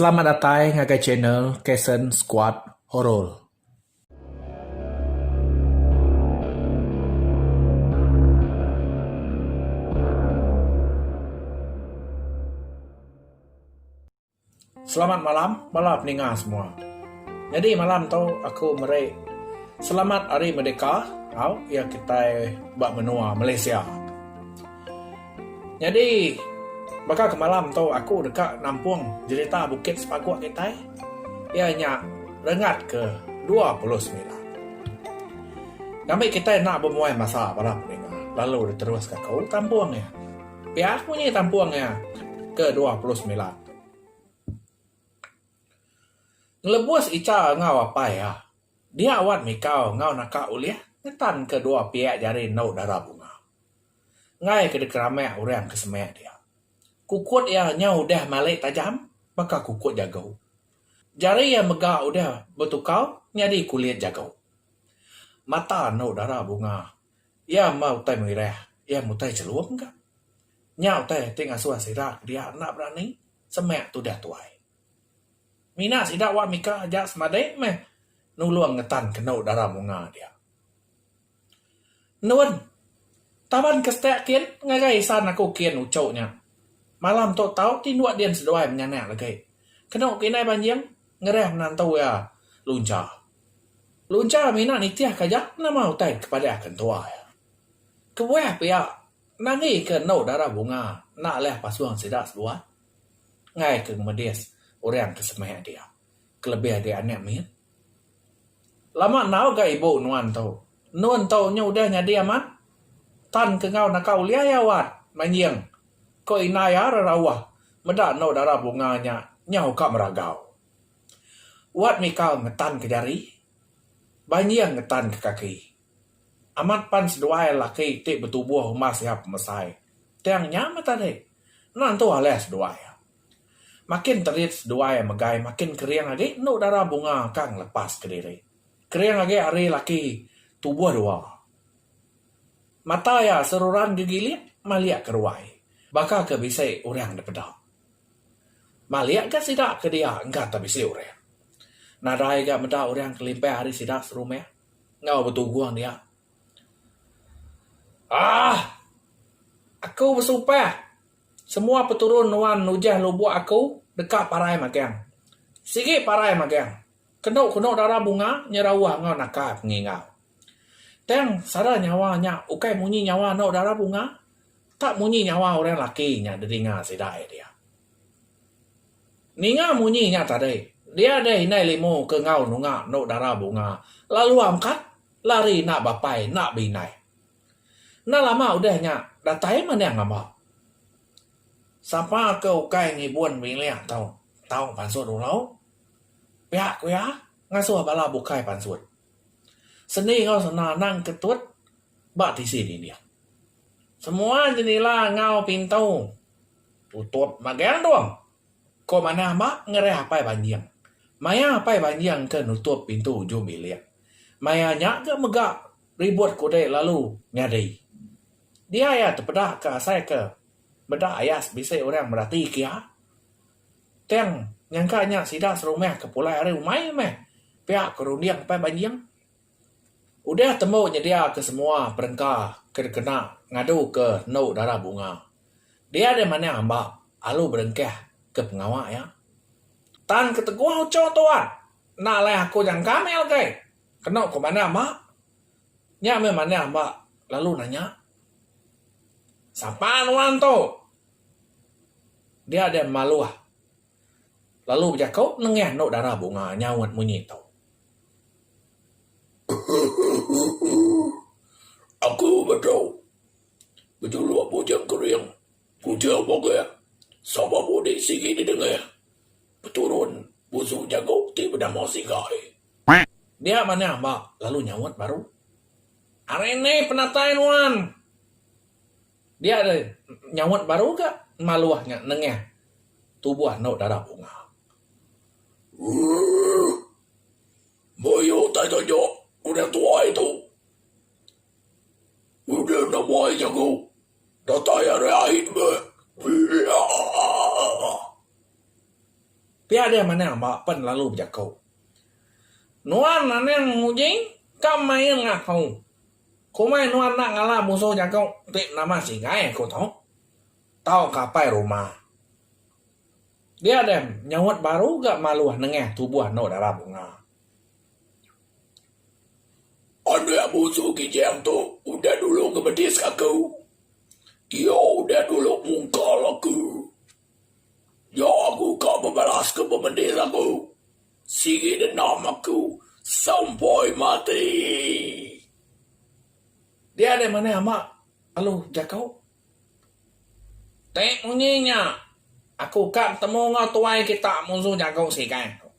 Selamat datai ngagai channel Kason Squad Horor. Selamat malam bala peninga semua. Nyadi malam tu aku meri selamat hari merdeka tau iya kitai ba menua Malaysia. Nyadi, baka ke malam tu aku deka nampung jerita Bukit Sepaguk kitai, iya nya Rengat ke dua puluh semilan. Ngambi kitai enda bemuai masa bala peninga lalu diteruska ke tampung iya. Pia ku munyi tampung iya ke dua puluh semilan tu. Ngelebus icha enggau apai iya, dia wan mikau enggau naka ulih ngetan ke dua pia jari endu dara bunga. ngai ke dikeramak orang ke semak dia. Kukut iya nyau udah malik tajam baka kukut jagu. Jari iya mega udah betukau nyadi kulit jagu. Mata anu dara bunga iya meh utai mengirah iya mutai chelum ka. Nya utai ti ngasuh sida ke dia enda berani semak tudah tuai. Mina sida wak mika aja semadi meh nulung ngetan kenu dara bunga dia. Nun. Taban ke setek kin ngagai isan aku kin uchu nya. Malam tu tau ti dua din seduai menyanak legi. Kenu ke indai banjing ngereh menantu iya luncha. Luncha mina nitih ke aja nama utai ke padahka entua iya. Kebuah pia nangi ke endu dara bunga enda leh pasung sida seduai ngaika ngemedis orang ke semeh dia kelebih agi anak mit. Lama enggau ga ibu nuan tu. Nun tu nya udah nyadi amat tan ke enggau naka ulih iya wat manjing ko ina iya rarauh meda anu dara bunga nya nyau ka meragau. Wat mika ngetan ke jari banjing ngetan ke kaki. Amat pan seduai laki ti betubuh umbas iya pemesai tang nya meh tadi. Ena entu alai seduai iya. Makin terit seduai megai makin kering agi enu dara bunga ka ngelepas kediri. Kering agi ari laki tubuh dua. Mata iya seruran gegilik malik ke ruai baka ke bisi orang dipeda. Malik ga sida ke dia engka te bisi orang. Nadai ga meda orang kelimpah ari sida serumah enggau betugung dia. Aah! Aku besumpah! Semua peturun nuan nujah lubuk aku deka parai magang. Sigi parai magang. Kenu kenu dara bunga nyerauh enggau naka pengingau. Tang sara nyawa nya ukai munyi nyawa anu dara bunga tak munyi nyawa orang laki nya didinga sida iya dia. Ninga munyi nya tadi, dia deh indai limu ke enggau nunga anu dara bunga lalu angkat lari enda bapai enda beindai. Enda lama udah nya datai manah ngaba. Sapa ke ukai ngibun bilik tau tau pansut ulau, pia ku iya ngasuh bala bukai pansut. Sendi enggau sena anang ke tut ba tisi dinding. Semua jendila enggau pintu tutup magang dong. Ko manah mak ngerai apai banjing. Maya apai banjing ke nutup pintu ujung bilik. Maya nya ga mega ribut kudi lalu nyadi. Dia iya tepeda ka asai ke meda ayas bisi orang merati ke iya. Tang nyangka nya sida serumah ke pulai ari umai meh pia ke runding apai banjing. Udah tembu nyedia ke semua perengka ke dikena ngadu ke endu dara bunga. Dia deh manah amba alu berengkah ke pengawa iya. Tang keteguh uchu tu ah. Enda alai aku nyangka mih algai. Kenu ku manah amba. Nya mih manah amba lalu nanya. Sapa nuan tu? Dia deh maluh. Lalu bejako nengah endo dara bunga nyaut munyi tu. Aku metu bejuluk bujang kering punca bogah sabab udik sigi di dengah peturun busu jaku ti benama Sigai. Dia manah ba lalu nyaut baru. Ari nih penatai nuan. Dia re nyaut baru ga maluh nya nengah tubuh anu dara bunga. Ooh. Mayuh utai taja udah tuai tu. Udah enda muai jaku. Datai ari ait meh. Eeeaah. Pia deh Manang ba pen lalu bejaku. Nuan Anang Uji ka main ngahau. Komai nuan enda ngalah musuh jaku ti nama Singai aku tu. Tau ka apai rumah. Dia deh nyaut baru ga maluh nengah tubuh anu dara bunga. Anak musuh Kijang tu udah dulu ngemedis aku. Iya udah dulu mungkal aku. Nya aku ka bebalaska bemedis aku. Sigi dendam aku sampai mati. Dia deh manah ama alu jaku. Ti munyi nya aku ka betemu enggau tuai kita munsuh jaku sigan tu.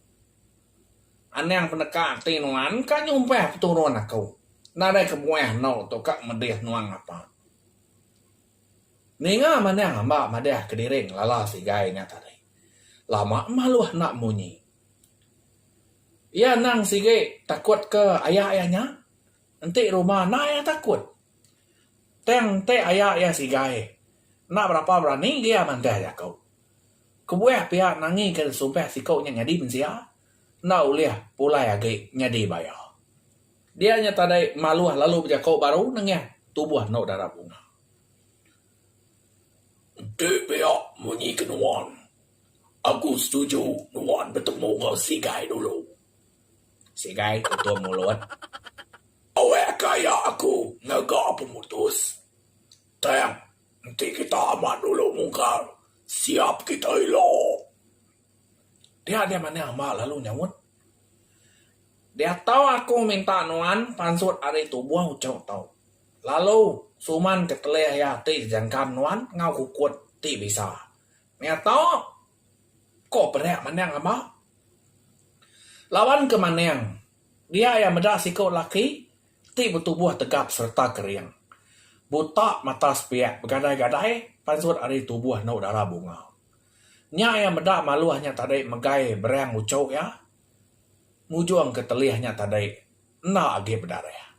Anang peneka ati nuan ka nyumpah peturun aku nadai kebuah eno tu ka medih nuan ngapa. Ninga manah amba madah kediri ngelala sigai nya tadi. Lama maluh enda munyi. Iya endang sigi takut ke aya iya nya. Enti rumah enda iya takut. Tang enti aya iya sigai enda berapa berani agi iya mantah jaku. Kebuah pia nangi ke sumpah siku nya nyadi mensia enda ulih pulai agi nyadi baya. Dia nya tadai maluh lalu bejako baru nengah tubuh endo dara bunga. Enti pia munyi ke nuan, aku setuju nuan betemu enggau Sigai dulu. Sigai tutung mulut. Awak ka iya aku ngaga pemutus. Tang, enti kita amat dulu mungkar, siap kita ila. Dia nya manah amba lalu nyaut. Diatu aku minta nuan pansut ari tubuh uchu tu. Lalu suman ketelih iya ti jangkan nuan enggau kukut ti bisa. Meh tu ko perak manang amba. Laban ke manang dia iya meda siku laki ti betubuh tegap serta kering. Buta mata sepiak begadai-gadai pansut ari tubuh enu dara bunga. Nya iya meda maluh nya tadi megai berang uchu iya ngujung ke telih nya tadi enda agi bedarah.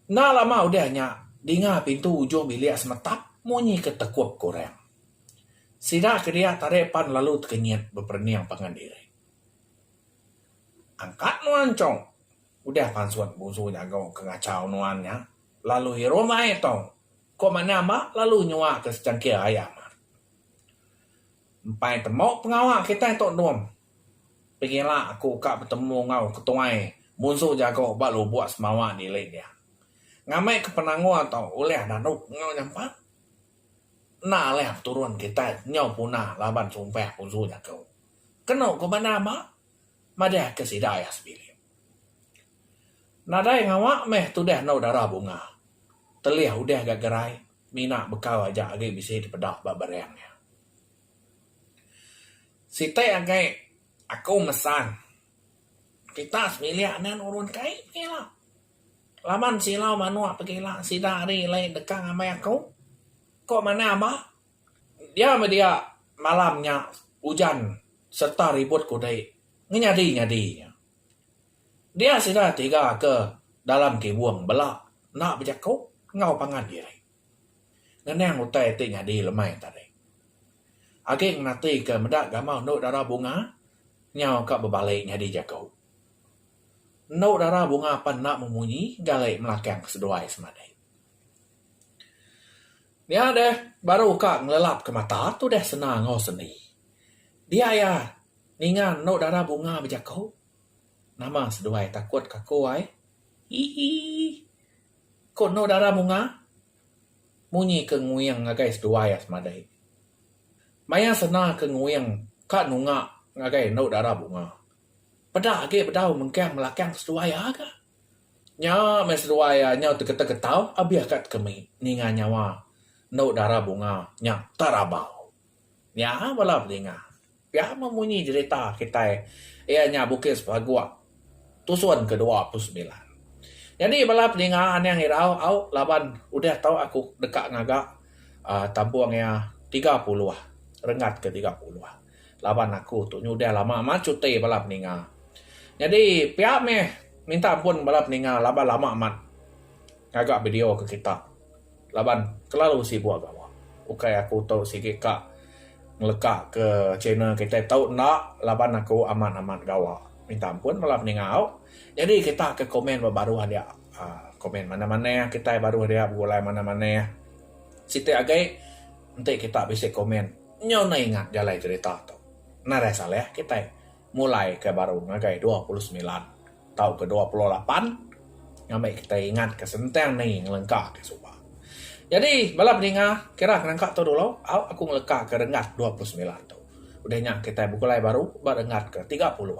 Enda lama udah nya dinga pintu ujung bilik semetap munyi ke tekup ke orang. Sida ke dia tadi pan lalu tekenyit beperening pangan diri. Angkat nuan chong, udah pansut bungsu jaku ke ngachau nuan nya lalu irum ai tong. Ko Manah Mak lalu nyuah ke secangkir air mak. Empai temu pengawa kitai Tok Endum. Pengila aku ka betemu enggau ketuai munsu jago ba lubok semawa di Lake dia. Ngambi ke penanggul tu ulih daduk enggau nyampak. Enda alih peturun kitai nyau puna laban sumpah munsu jago. Kenu ko Manah Mak. madahka sida iya sebilik. Nadai ngawa meh tudah endur dara bunga, telih udah ga gerai mina bekau aja agi bisi dipeda ba bereng iya. Siti agi aku mesan kita sebilik enda nurun kai pegila. Laban silau manuk pegila sida ari alai deka ngambai aku ko manah ba. Dia meh dia malam nya ujan serta ribut kudi ngenyadi-nyadi nya. Dia sida tiga ke dalam kibung bela enda bejaku enggau pangan diri. Ngenang utai ti nyadi lemai tadi. Agi ngenatika meda gamal endu dara bunga nyau ka bebali nyadi jaku. Endu dara bunga pan enda memunyi gali melakang seduai semadi. Nya deh baru ka ngelelap ka mata tu deh senang enggau seni. Dia iya ninga anu dara bunga bejaku nama seduai takut ka aku ai hi hi ku anu dara bunga munyi ke nguing ngagai seduai iya semadi. Maya sena ke nguing ka nunga ngagai anu dara bunga peda agi bedau mengkang belakang seduai iya ga. Nya meh seduai iya nyau teketeau keteau abih ka tekemi ninga nyawa endo dara bunga nya terabau. Nya bala pedinga pia meh munyi jerita kitai iya nya bukis paguk tusun ke dua puluh semilan. Nyadi bala pedinga anang irau au laban udah tau aku deka ngaga aaa tampung iya tiga puluh renggat ke tiga puluh. laban aku tu nyudah lama amat cuti bala peninga. Nyadi pia meh minta ampun bala peninga laban lama amat ngaga video ke kita laban kelalu sibuk gawa. Ukai aku tu sigi ka ngeleka ke channel kitai tu enda laban aku amat amat gawa. Minta ampun bala peninga au. Nyadi kita ke komen ba baruh dia uhh komen manah manah kitai baruh dia begulai manah manah. Siti agi enti kita bisi komen. Nyau na ingat jalai cerita tu. Narai Saleh kitai mulai ke baru ngagai dua puluh semilan tau ke dua puluh lapan ngambi kitai ingat ke sentang ni ngelengka ke suba. Jadi bala peninga kira ke nangka tu dulu au aku ngeleka ke renggat dua puluh semilan tu. Udah nya kitai begulai baru ba renggat ke tiga puluh.